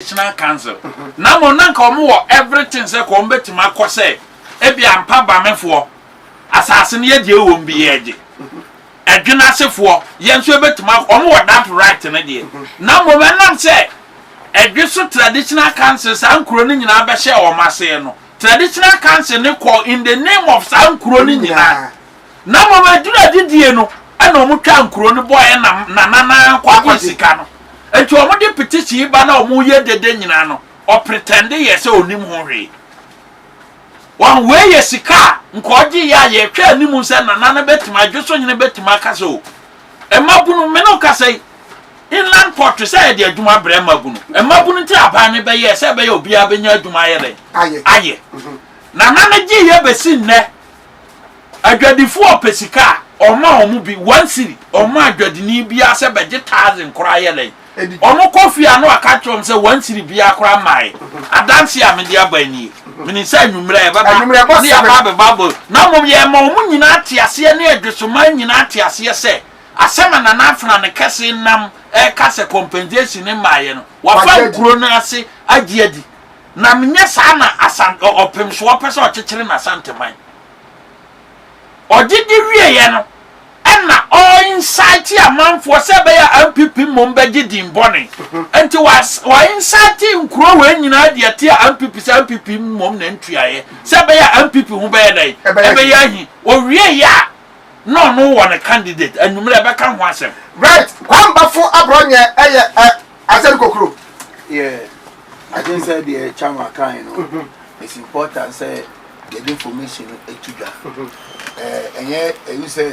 National Council na mmom na nka wɔn wɔ everything sɛ ka wɔn bɛtumi akɔ sɛ ebi a mpa bamefoɔ asaase no yɛgye wɔ mu bi yɛgye ɛdwene asefoɔ yɛn nso yɛbɛtumi akɔ wɔn wɔ that right no deɛ na mmom ɛnam sɛ ɛdwe so traditional council saa nkuro no nyinaa bɛhyɛ wɔn aseɛ no traditional council no kɔ in the name of saa nkuro no nyinaa Na mmom aduru adidie no na wɔn twaa nkuro no bɔeɛ nam nananaa kɔ akɔ sika no nti wɔn de pete sii ba na wɔn yɛ dede nyinaa no ɔpretɛnde yɛ sɛ ɔnim ho hwee wɔn wei yɛ sika a nka ɔgye yɛ a yɛhwɛ anim sɛ nana no bɛtumi adwo so nyene bɛtumi aka sɛ o mmabunu me no kasa yi inland port sɛ yɛde adwuma brɛ mmabunu mmabunu nti aban no bɛyɛ sɛ ɛbɛyɛ obiara bɛnya adwuma ayɛ dɛn ayɛ nana no gye yɛ bɛsi nnɛ Adwadifo a ɔpɛ sika a, ɔma wɔn bi, one cedi, ɔma adwadini biara sɛ bɛgye thousand koraa yɛ dɛn? Wɔkɔ fie a na waka akyerɛ wɔn sɛ one cedi biara koraa mmae. Adanse a mede aba nie. Menim sɛ anwummerɛ a yɛbɛba ne yɛaba abɛbɔ abɔ yi, na mmom yɛrema wɔn nyinaa te aseɛ ne adwesomaa nyinaa te aseɛ sɛ, asɛm a Nana Afena ne kɛse nam reka sɛ compensation mmaeɛ no, wɔafa nkuro no ase agye adi. Nam nyɛ saa na Asan ɔ ɔpemso ɔpɛ sɛ ɔkyekyere n'Asanteman. Ɔgye di wieɛ no, ɛna ɔ incite amanfoɔ sɛ ɛbɛyɛ a NPP mmom bɛgye din bɔne. Nti wa wa incite nkuro wei nyinaa de atia NPP sɛ NPP mmom na ntuaeɛ sɛ ɛbɛyɛ a NPP ho bɛyɛ dɛn? Ɛbɛyɛ ahi. Ɔwieeɛ a, na ɔno wɔ ne candidate, anwummerɛ bɛka ho asɛm. Right, Kwambafo Aborɔnyɛ yɛ ɛ. Asɛm kokoro yɛ adwene sɛ deɛ ɛkya ma kan no mhm. it's important sɛ yɛde information no to dwa mhm. ɛnyɛ ɛyi sɛ